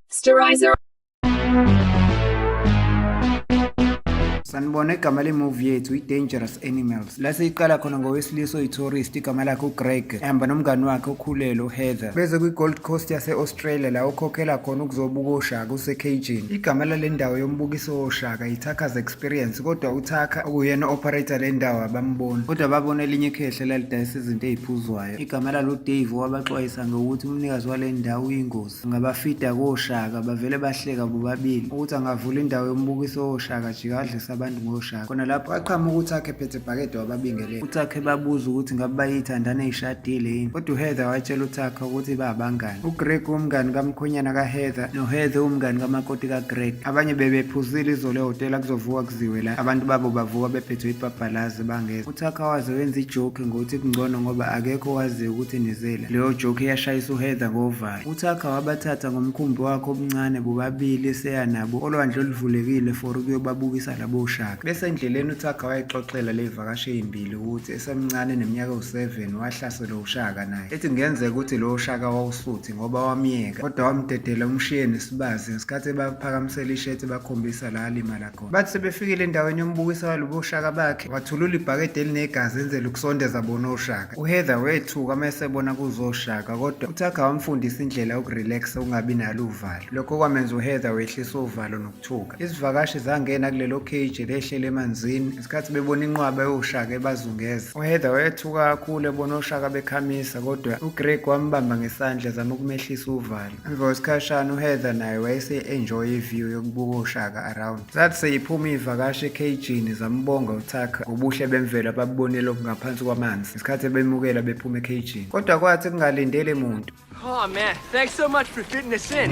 Sterilizer. sanibona igama le-movie yethu i-dangerous animals la siyiqala khona ngowesilisa oyi-tourist igama lakhe ugreg ehamba nomngani wakhe okhulele uheather beze kwi-gold coast yase trailer la ukhokhela khona ukuzobuka oshaka usekhejini igama lale ndawo yombukiso woshaka yithakas experience kodwa uthakha okuyena operator le ndawo abamboni kodwa babona elinye ikhehle lalidayisa izinto eziphuzwayo igama lalo dave wabaxwayisa ngokuthi umnikazi wale ndawo uyingozi angabafida koshaka bavele bahleka bobabili ukuthi angavula indawo yombukiso woshaka jikadlisa abantu ngoshaka khona lapho aqhama ukuthi akhe phethe bhakede wababingele uThakhe babuza ukuthi ngabe bayithandana ishadile yini kodwa uHeather watshela uThakhe ukuthi babangani uGreg umngani kamkhonyana kaHeather noHeather umngani kamakoti kaGreg abanye bebephuzile izolo ehhotela kuzovuka kuziwe la abantu babo bavuka bephethwe ibhabhalazi bangeza uThakhe waze wenza ijoke ngokuthi kungcono ngoba akekho owaziyo ukuthi nizela leyo joke yashayisa uHeather ngovalo uThakhe wabathatha ngomkhumbi wakhe obuncane bobabili eseya nabo olwandle oluvulekile for ukuyobabukisa labo shaka bese endleleni uThakhe wayexoxela le Vakashi eyimbili ukuthi esemncane neminyaka ewu-7 wahlaselwa uShaka naye ethi kungenzeka ukuthi lowo Shaka wawusuthi ngoba wamyeka kodwa wamdedela umshiye nesibazi ngesikhathi ebaphakamisela ishethi bakhombisa la alimala khona. Bathi sebefikile endaweni yombukisa walobo oshaka bakhe wathulula ibhakede elinegazi enzela ukusondeza bona oshaka. UHeather wethuka uma esebona kuzoshaka kodwa uThakha wamfundisa indlela yokurelaxa ukungabi nalo uvalo. Lokho kwamenza uHeather wehlisa uvalo nokukhuluma. Thuka. Izivakashi zangena kulelo cage lehlele emanzini ngesikhathi bebona inqwaba yoshaka ebazungeza. UHeather wayethuka kakhulu ebona oshaka bekhamisa kodwa uGreg wambamba ngesandla ezama ukumehlisa uvalo. Emva kwesikhashana uHeather naye wayese-enjoy iview yokubuka oshaka around. Zathi seyiphuma iy'vakashi ekhejini zambonga uThakha ngobuhle bemvelo ababubonile ngaphansi kwamanzi ngesikhathi ebemukela bephuma ekhejini. Kodwa kwathi kungalindele muntu Oh man, thanks so much for fitting us in.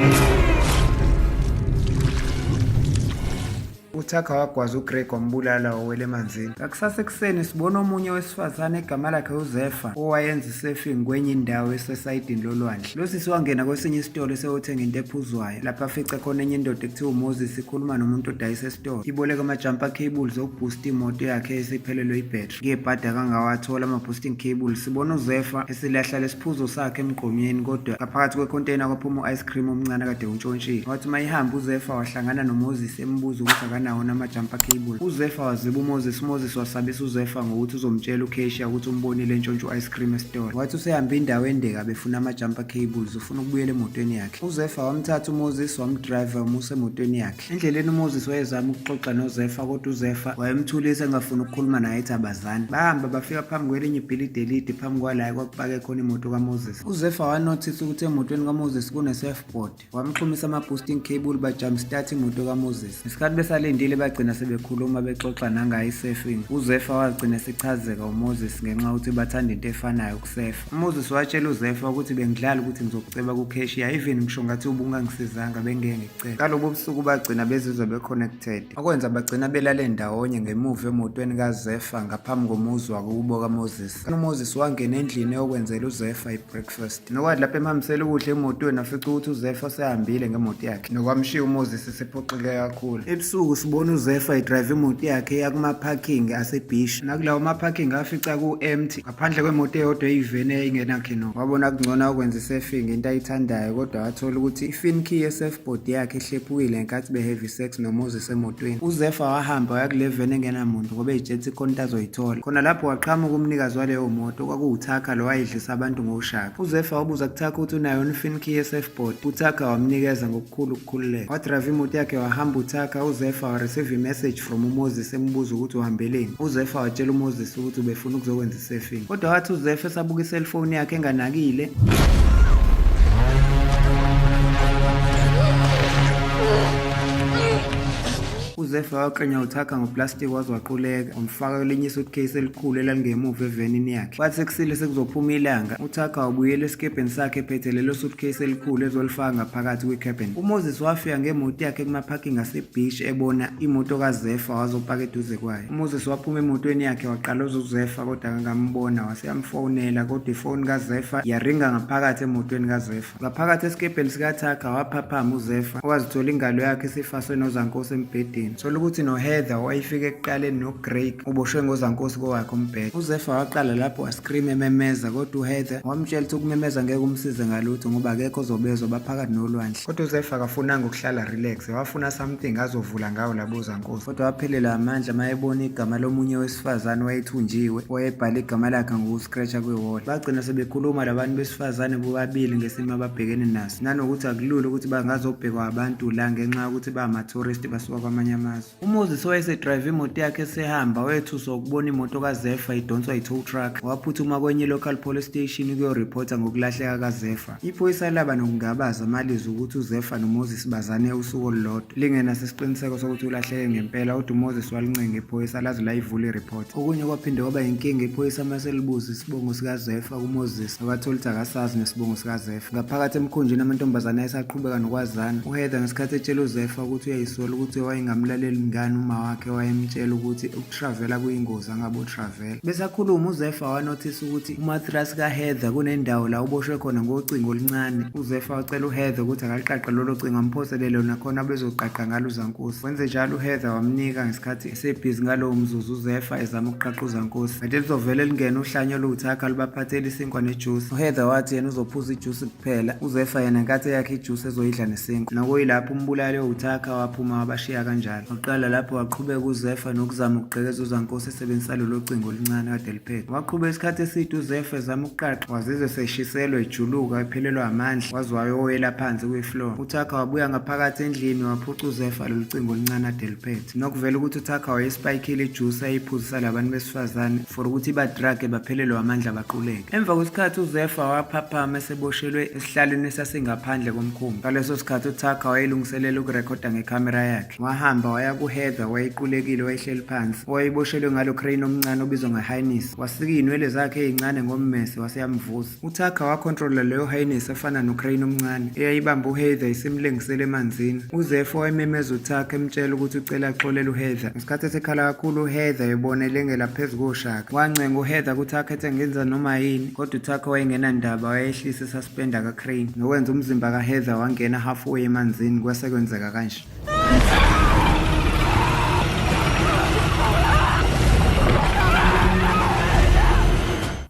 uthakha wagwaza ugreg wambulala wawela emanzini ngakusasa ekuseni sibona omunye wesifazane egama lakhe uzefa owayenza isefing kwenye indawo esesayidini lolwandle lo sisi wangena kwesinye isitolo esewothenga into ephuzwayo lapho afice khona enye indoda ekuthiwa umoses ikhuluma nomuntu odayisa esitolo iboleka amajampa cables okubhusta imoto yakhe esiphelelwe ibhetri Ngebhadi akangawathola ama-boosting cable sibona uzefa esilahla lesiphuzo sakhe emgqomyeni kodwa ngaphakathi kwecontainer kwaphuma u-ice cream omncane kade untshontshile wathi uma ihamba uzefa wahlangana nomoses embuza ukuthi akanawo nama-jumper cable uzefa waziba umoses umoses wasabisa uzefa ngokuthi uzomtshela ucashiya ukuthi umbonile entshontsha u-ice cream esitolo wathi usehambe indawo endeka befuna ama-jumper cables ufuna ukubuyela emotweni yakhe uzefa wamthatha umoses wamdrive wamusa emotweni yakhe Endleleni uMoses wayezama ukuxoxa noZefa kodwa uZefa wayemthulisa engafuni ukukhuluma naye ethi abazani. Bahamba bafika phambi kwelinye ibhilidi elide phambi kwalayo kwakupake khona imoto kaMoses. UZefa wanothisa ukuthi emotweni kaMoses kune-surfboard. Wamxhumisa ama-boosting cable bajump start imoto kaMoses. Ngesikhathi besalindile bagcina sebekhuluma bexoxa nangayo i-surfing. UZefa wagcina esichazeka uMoses ngenxa yokuthi bathanda into efanayo ukusefa. UMoses watshela uZefa ukuthi bengidlala ukuthi ngizokuceba kucashier even ngisho ngathi ubungangisizanga bengeke Cele. Kalobo busuku bagcina bezizwe be-connected, okwenza bagcina belale ndawonye ngemuva emotweni kaZefa ngaphambi komuzi wakubo kaMoses. UMoses wangena endlini eyokwenzela uZefa i-breakfast. Nokwathi lapho emhambisela ukudla emotweni wafica ukuthi uZefa usehambile ngemoto yakhe. Nokwamshiya uMoses esephoxeke kakhulu. Ebusuku sibona uZefa idrive imoto yakhe eya kuma-parking asebhishi. Nakulawo ma-parking afica ku-empty. phandle kwemoto eyodwa eyiveni eyayingenakhino wabona kungcono akwenza isurfing into ayithandayo kodwa wathola ukuthi i-fin key ye-surfboard yakhe ihlephukile ngenkathi be-heavy sex nomoses emotweni uzefa wahamba waya kule veni engenamuntu ngoba eyijethi khona into azoyithola khona lapho waqhamuka umnikazi waleyo moto kwakuwuthakha lo wayedlisa abantu ngoshaka uzefa wabuza kuthakha ukuthi unayo unifin key ye-surfboard uthakha wamnikeza ngoku Khulu ukukhululeka. Wadrive imoto yakhe wahamba uThaka, uZefa wareceive imessage from uMoses emubuza ukuthi uhambeleni. UZefa watshela uMoses ukuthi ubefuna ukuzokwenza isurfing. Kodwa wathi uZefa esabuka iselfoni yakhe enganakile. uZefa waqenya uThaka ngoplastiki waze waquleka, wamfaka kwelinye isuitcase elikhulu elalingemuva evenini yakhe. Wathi sekusile sekuzophuma ilanga. UThakha wabuyela esikebheni sakhe ephethe lelo suitcase elikhulu ezolifaka ngaphakathi kwi-cabin. UMoses wafika ngemoto yakhe kuma-parking asebeach ebona imoto kaZefa wazopaka eduze kwayo. UMoses waphuma emotweni yakhe waqaloza uZefa kodwa akangambona wase yamfonela kodwa ifoni kaZefa yaringa ngaphakathi emotweni kaZefa. Ngaphakathi esikebheni sikaThakha waphaphama uZefa owazithola ingalo yakhe isifaswe nozankosi embhedeni. Sola ukuthi noHeather owayefika ekuqaleni noGreg uboshwe ngozankosi kowakhe umbhede. UZefa waqala lapho wascream ememeza kodwa uHeather wamtshela ukuthi ukumemeza ngeke umsize ngalutho ngoba akekho ozobezwa baphakathi nolwandle. Kodwa uZefa akafunanga ukuhlala relax wafuna something azovula ngawo labo zankosi. Kodwa waphelelwa amandla mayebona igama lomunye wesifazane wayethunjiwe wayebhala igama lakhe ngokuthi Greater kwi-wall bagcina sebekhuluma labantu besifazane bobabili ngesimo ababhekene naso nanokuthi akulula ukuthi bangazobhekwa abantu la ngenxa yokuthi bangamathuristi basuka kwamanye amazwe umoses owayesedrayive imoto yakhe esehamba wethuswa ukubona imoto kazefa idonswa yi-tow truck waphuthuma kwenye i-local police station ukuyoripotha ngokulahleka kazefa Iphoyisa laba nokungabaza amalizwi ukuthi uZefa noMoses bazane usuku olulodwa lingenaso isiqiniseko sokuthi ulahleke ngempela kodwa uMoses walincenga iphoyisa laze layivula ireport. Okunye kwaphinde kwaba yinkinga iphoyisa uma selibuza isibongo sikaZefa kuMoses abathola ukuthi akasazi nesibongo sikaZefa. Ngaphakathi emkhunjini amantombazane ayesaqhubeka nokwazana. UHeather ngesikhathi etshela uZefa ukuthi uyayisola ukuthi wayengamlaleli mngani uma wakhe wayemtshela ukuthi Travela kuyingozi angabo Travela. Besakhuluma uZefa wanothisa ukuthi umatras kaHeather kunendawo la uboshwe khona ngocingo oluncane. UZefa wacela uHeather ukuthi akaliqaqe lolo cingo amphosele lona khona bezoqaqa ngalo uZankosi. Wenze njalo uHeather wamnika ngesikhathi esebhizi ngalowo mzuzu uZefa ezama ukuqaqa uZankosi. Kanti lizovele lingene uhlanya oluwuthakha lubaphathele isinkwa nejuice. UHeather wathi yena uzophuza ijuice kuphela. UZefa yena nkathi eyakhe ijuice ezoyidla nesinkwa. Nakoyilapho umbulali owuthakha waphuma wabashiya kanjalo. Waqala lapho waqhubeka uZefa nokuzama ukugqekeza uZankosi esebenzisa lolo cingo oluncane kade eliphethe. Waqhuba isikhathi eside uZefa ezama ukuqaqa wazizwe seshiselwa ejuluka ephelelwa amandla waze wayoyela phansi kwi-floor. UThakha wabuya ngaphakathi endlini waphuca uZefa lolu cingo oluncane ade eliphethe. Nokuvela ukuthi uThakha wayespayikile ijusi ayiphuzisa labantu besifazane for ukuthi ibadrage baphelelwe amandla baquleke. Emva kwesikhathi uZefa waphaphama eseboshelwe Esihlalweni esasingaphandle komkhumbi ngaleso sikhathi uThakha wayelungiselela ukurekhoda ngekhamera yakhe. Wahamba waya kuHeather wayequlekile wayehleli phansi owayeboshelwe ngalo crane omncane obizwa ngeHighness. Wasika iy'nwele zakhe ey'ncane ngommese wase yamvusa. UThakha wakhontrola leyo Highness efana nocrane omncane eyayibamba uHeather isimlengisela emanzini. UZeph wayememeza uThakha emtshela ukuthi ucela axolele uHeather. Isikhathi esikhala kakhulu uHeather ebona elengela phezu koshaka. Wancenga uHeather ukuthi akhethe ngenza noma yini, kodwa uThakha wayengenandaba wayehlisa isuspend kaCrane nokwenza umzimba kaHeather wangena halfway emanzini kwase kwenzeka kanje.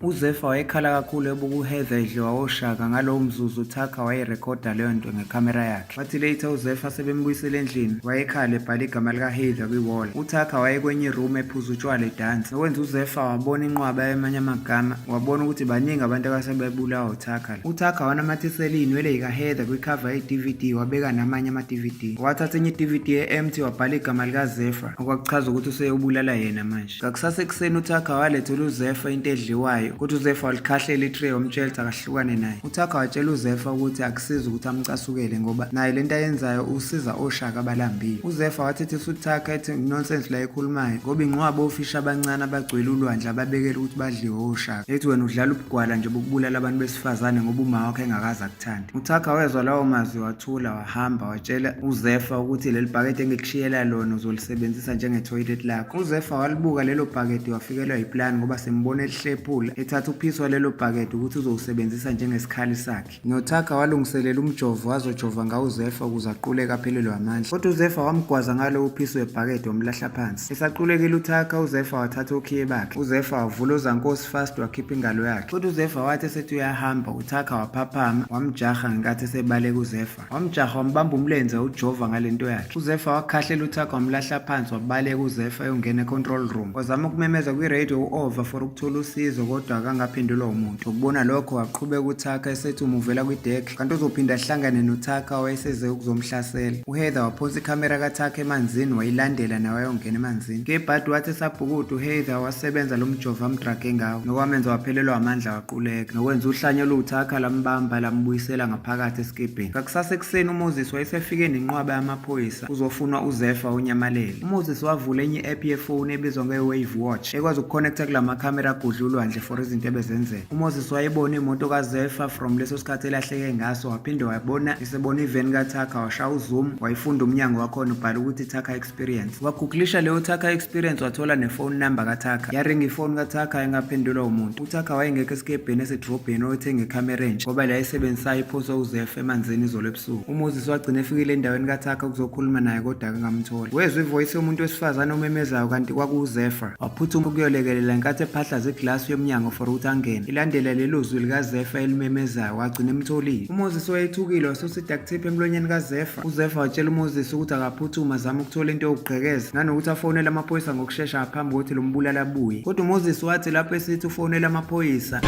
UZefa wayekhala kakhulu ebuka uHeather edliwa oshaka ngalowo mzuzu uThakha wayerekhoda leyo nto ngekhamera yakhe. Bathi later uZefa sebembuyisela endlini wayekhala ebhala igama likaHeather kwiwall. UThakha wayekwenye iroom ephuza utshwala edansa. Nokwenza uZefa wabona inqwaba yamanye amagama wabona ukuthi baningi abantu abasebebulawa uThakha. UThakha wanamathisela iy'nwele yikaHeather kwikhava ye-DVD wabeka namanye ama-DVD. Wathatha enye i-DVD e-empty wabhala igama likaZefa okwakuchaza ukuthi useyobulala yena manje. Ngakusasa ekuseni uThakha walethela uZefa into edliwayo ukuthi uZefa walikhahlela itray wamtshela ukuthi akahlukane naye. UThakha watshela uZefa ukuthi akusizi ukuthi amcasukele ngoba naye le nto ayenzayo usiza oshaka abalambile. UZefa wathethisa uThakha ethi nonsense la ekhulumayo ngoba inqwaba ofisha abancane abagcwele ulwandle ababekela ukuthi badliwe oshaka. Ethi wena udlala ubugwala nje bokubulala abantu besifazane ngoba uma wakho engakaza Thandi. UThakha wezwa lawo mazwi wathula wahamba watshela uZefa ukuthi leli bhakede engikushiyela lona uzolisebenzisa njengetoilet lakho. UZefa walibuka lelo bhakede wafikelwa yiplan ngoba sembona elihlephula ethatha uphiso walelo bhakede ukuthi uzowusebenzisa njengesikhali sakhe. NoThakha walungiselela umjovo wazojova ngawo uZefa ukuze aquleke aphelelwe amandla. Kodwa uZefa wamgwaza ngalo uphiso webhakede wamlahla phansi. Esaqulekile uThakha uZefa wathatha okhiye bakhe. UZefa wavula ozankosi fast wakhipha ingalo yakhe. Kodwa uZefa wathi esethi uyahamba Thakha waphaphama wamjaha ngenkathi esebaleka uZefa. Wamjaha wambamba umlenze ujova ngalento yakhe. UZefa wakhahlela uThakha wamlahla phansi wabaleka uZefa eyongena econtrol room. Wazama ukumemeza kwiradio u-Ova for ukuthola usizo kodwa akangaphendulwa umuntu. Ukubona lokho waqhubeka uThakha esethi umuvela kwidek kanti uzophinda ahlangane noThakha wayeseze ukuzomhlasela. UHeather waphonsa ikhamera kaThakha emanzini wayilandela nawe ayongena emanzini. Kebhadi wathi esabhukuda uHeather wasebenza lo mjova amdrage ngawo nokwamenza waphelelwa amandla Quleka nokwenza uhlanya oluwuthakha lambamba lambuyisela ngaphakathi esikebheni. Ngakusasa ekuseni uMoses wayesefike nenqwaba yamaphoyisa kuzofunwa uZefa onyamalele. UMoses wavula enye i-app yefoni ebizwa nge-Wave Watch ekwazi ukuconnecta kula makhamera agudla ulwandle for izinto ebezenzeka. UMoses wayebona imoto kaZefa from leso sikhathi elahleke ngaso waphinde wabona isebona iveni kaThakha washaya uzoom wayifunda umnyango wakhona ubhala ukuthi Thakha experience wagugulisha leyo Thakha experience wathola nefone number kaThakha yaringa ifoni kaThakha engaphendulwa umuntu uThakha wayengekho esikebheni esedrobheni oyethenge icamera entsha ngoba la esebenzisayo iphose uzef emanzini izolo ebusuku umoses wagcina efikile endaweni kaThakha ukuzokhuluma naye kodwa akangamtholi wezwa ivoyisi yomuntu wesifazane omemezayo kanti kwakuwuzefa waphuthuma ukuyolekelela nkathi ephahlaza iglasi yomnyango for ukuthi angene ilandela lelo zwi likazefa elimemezayo wagcina emtholile umoses wayethukile wasosida kuthipha emlonyeni kazefa UZefa watshela uMoses ukuthi akaphuthuma azame ukuthola into yokugqekeza nanokuthi afonele amaphoyisa ngokushesha ngaphambi kokuthi lo mbulali abuye. Kodwa uMoses wathi lapho esithi ufonele amaphoyisa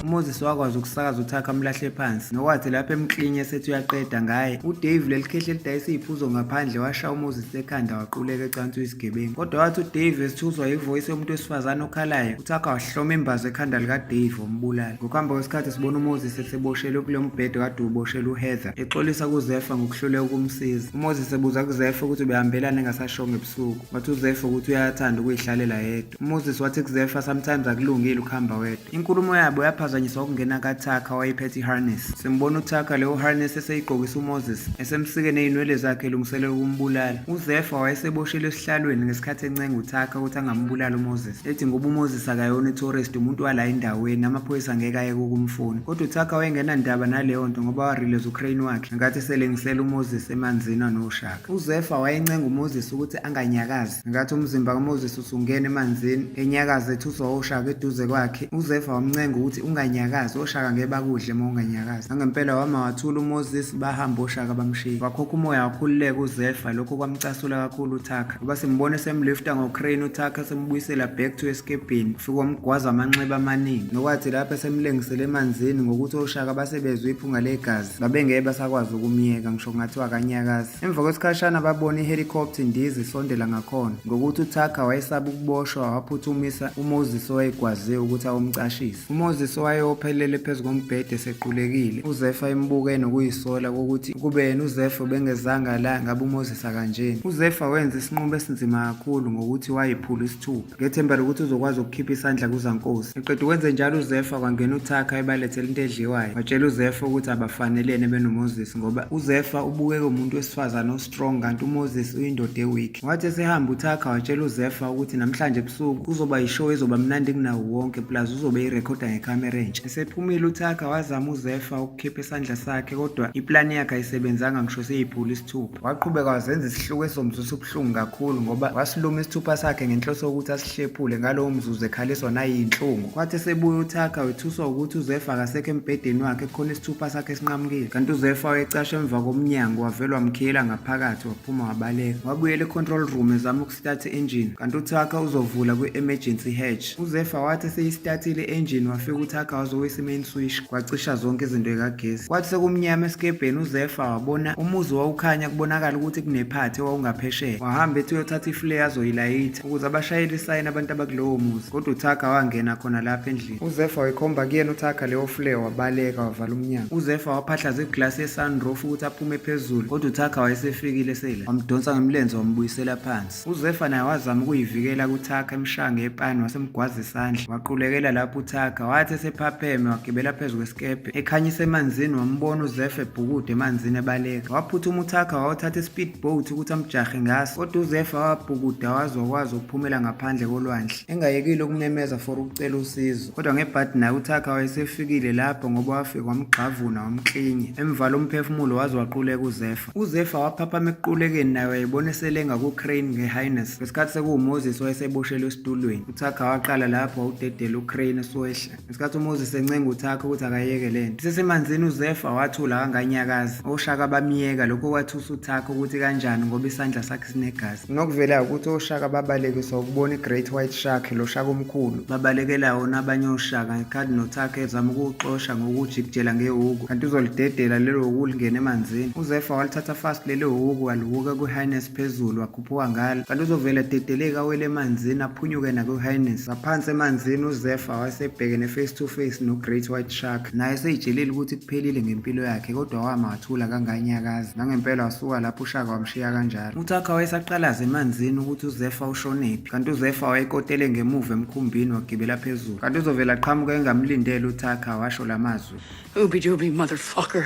uMoses wakwazi ukusakaza uThakha amlahle phansi nokwathi lapho emklinye esethi uyaqeda ngaye uDave lelikhehle elidayisa iziphuzo ngaphandle washaya uMoses ekhanda waquleka ecansi uyisigebengu kodwa wathi uDave esithuzwa yivoice yomuntu wesifazane okhalayo uThakha wahloma imbazo ekhanda likaDave wambulala Ngokuhamba kwesikhathi sibona uMoses eseboshelwe kulo mbhede kade uboshelwe uHeather exolisa kuZefa ngokuhluleka ukumsiza. UMoses ebuza kuZefa ukuthi ubehambelani engasashongo ebusuku. Wathi uZefa ukuthi uyathanda ukuyihlalela yedwa. UMoses wathi kuZefa sometimes akulungile ukuhamba wedwa. Inkulumo yabo yaphazanyiswa ukungena kaThaka wayephethe iharness. Simbona uThaka leyo harness eseyigqokisa uMoses esemsike nezinwele zakhe elungiselela ukumbulala. UZefa wayeseboshelwe esihlalweni ngesikhathi encenga uThaka ukuthi angambulali uMoses. ethi ngoba uMoses akayona itourist umuntu wala endaweni amaphoyisa ngeke ayeke ukumfuna kodwa uThaka wayengenandaba naleyo nto ngoba warelease uCrane wakhe ngenkathi selengisela uMoses emanzini anoshaka uZefa wayencenga uMoses ukuthi anganyakazi ngenkathi umzimba kaMoses usungena emanzini enyakaza ethuswa oshaka eduze kwakhe uZefa wamncenga ukuthi unganyakazi oshaka ngeke bakudle uma unganyakazi nangempela wama wathula uMoses bahamba oshaka bamshiya wakhokha umoya wakhululeka uZefa lokho kwamcasula kakhulu uThaka ngoba simbone semlifta ngocrane uthakha sembuyisela back to escape ufike wamgwaza amanxeba amaningi nokwathi lapho esemlengisele emanzini ngokuthi oshaka basebezwe iphunga legazi babengeke basakwazi ukumyeka ngisho kungathiwa akanyakazi emva kwesikhashana babona ihelikopta indiza isondela ngakhona ngokuthi uthakha wayesaba ukuboshwa waphuthumisa umoses owayegwaziwe ukuthi awumcashise UMoses owayewophelele phezu kombhede esequlekile, uZefa embuke nokuyisola kokuthi kube yena uZefa ubengezanga la ngabe uMoses akanjeni. UZefa wenza isinqumo esinzima kakhulu ngokuthi wayephula isithupha. Ngethemba lokuthi uzokwazi ukukhipha isandla kuzankosi. Eqeda ukwenze njalo uZefa kwangena uThakha ebalethela into edliwayo. Watshela uZefa ukuthi abafanelene benoMoses ngoba uZefa ubukeka umuntu wesifazane osithola strong kanti uMoses uyindoda eweak. Wathi esehamba uThakha watshela uZefa ukuthi namhlanje ebusuku kuzoba yishow ezoba mnandi kunawo wonke plus uzobe irekhoda ngekhamera entsha. Esephumile uThakha wazama uZefa ukukhipha isandla sakhe kodwa iplani yakhe ayisebenzanga ngisho seyiphula isithupha. Waqhubeka wazenza isihluku esomzusa ubuhlungu kakhulu ngoba wasiluma isithupha sakhe ngenhloso yokuthi Hlephule ngalowo mzuzu ekhaliswa nayinhlungu kwathi esebuya uThakha wethuswa ukuthi uZefa akasekho embhedeni wakhe kukhona isithupha sakhe esinqamukile kanti uZefa wayecashe emva komnyango wavele wamkhiyela ngaphakathi waphuma wabaleka wabuyela e-control room ezama ukusithatha i-engine kanti uThakha uzovula kwi-emergency hatch uZefa wathi eseyistatile i-engine wafika uThakha wazowisa i-main switch kwacisha zonke izinto ekagesi kwathi sekumnyama esikebheni uZefa wabona umuzi wawukhanya kubonakala ukuthi kunephathi owawungaphesheya wahamba ethi uyothatha iflare azoyilayitha ukuze abashayele isayini abantu abakulowo muzi kodwa uthaka wangena khona lapha endlini uzefa wayikhomba kuyena uthaka leyo fule wabaleka wavala umnyango uzefa waphahlaza iglasi yesunroof ukuthi aphume phezulu kodwa uthaka wayesefikile sela wamdonsa ngemlenze wambuyisela phansi uzefa naye wazama ukuyivikela kuthaka emshange epani wasemgwaza isandla waqulekela lapho uthaka wathi esephapheme wagibela phezu kwesikebhe ekhanyisa emanzini wambona uzefa ebhukude emanzini ebaleka waphuthuma uthaka wawuthatha ispeed Bo uthi ukuthi amjahe ngaso kodwa uZefa wabhukuda waze wakwazi ukuphumela ngaphandle kolwandle engayekile ukumemeza for ukucela usizo kodwa ngebhadi naye uThakha wayesefikile lapho ngoba wafika wamgxavuna wamklinya emvala umphefumulo waze waquleka uZefa uZefa waphaphama ekuqulekeni naye wayebona eselenga kuCrane ngeHighness ngesikhathi sekuwuMoses wayeseboshelwe esitulweni uThakha waqala lapho wawudedela uCrane esiwehla ngesikhathi umoses encenga uthakhe ukuthi akayeke le nto isesemanzini uzefa wathula kanganyakazi oshaka bamyeka lokho kwathusa uthakhe ukuthi kanjani ngoba isandla sakhe sinegazi nokuvelayo ukuthi oshaka babalekiswa ukubona i-great white shark lo shaka omkhulu babalekela wona abanye oshaka ngekhadi nothakhe ezama ukuwuxosha ngokujikijela ngewuku kanti uzolidedela lelo wuku lingena emanzini uzefa walithatha fast lelo wuku waluwuka kwi-highness phezulu wagula Uphuphuka ngalo kanti uzovele dedeleke awele emanzini aphunyuke nakuHighness ngaphansi emanzini uZefa wasebhekene face to face noGreat White Shark naye seyijelile ukuthi kuphelile ngempilo yakhe kodwa wama wathula kanganyakazi nangempela wasuka lapho uShaka wamshiya kanjalo uThakha wayesaqalaza emanzini ukuthi uZefa ushonephi kanti uZefa wayekotele ngemuva emkhumbini wagibela phezulu kanti uzovele aqhamuke engamlindele uThakha washo lamazwi Obi Dobi motherfucker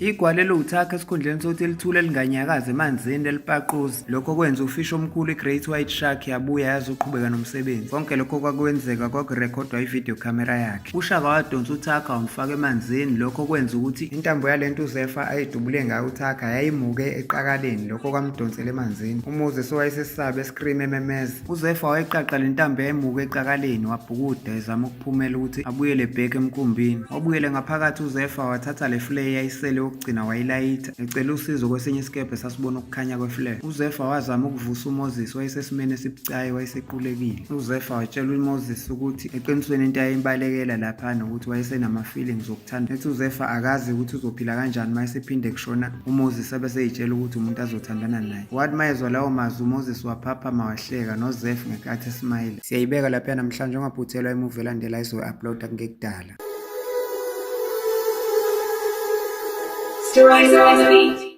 Igwala eliwuthakha esikhundleni sokuthi elithule linganyakazi emanzini elipaquza. Lokho kwenza ufishi omkhulu i-Great White Shark yabuya yazoqhubeka nomsebenzi. Konke lokho kwakwenzeka kwakurekhodwa ivideo camera yakhe. UShaka wadonsa uthakha wamfaka emanzini lokho kwenza ukuthi intambo yale nto uZefa ayidubule ngayo uthakha yayimuke eqakaleni lokho kwamdonsela emanzini. UMoses owayesesabe escream ememeza. UZefa wayeqaqa le ntambo yayimuka ecakaleni wabhukuda ezama ukuphumela ukuthi abuyele bheke emkumbini. Wabuyele ngaphakathi uZefa wathatha le flare yayisele yokugcina wayilayitha ecela usizo kwesinye isikebhe sasibona ukukhanya kweflare. UZefa wazama ukuvusa uMoses wayesesimeni esibucayi wayesequlekile. UZefa watshela uMoses ukuthi eqinisweni into ayimbalekela lapha nokuthi wayesenama-feelings okuthanda. Ethi uZefa akazi ukuthi uzophila kanjani uma esephinde kushona uMoses abeseyitshela ukuthi umuntu azothandana naye. Wathi mayezwa lawo mazwi uMoses waphaphama wahleka noZef ngenkathi esimayile. Siyayibeka lapha namhlanje ungaphuthelwa imuvi elandela izoyi-uploada kungekudala. Stories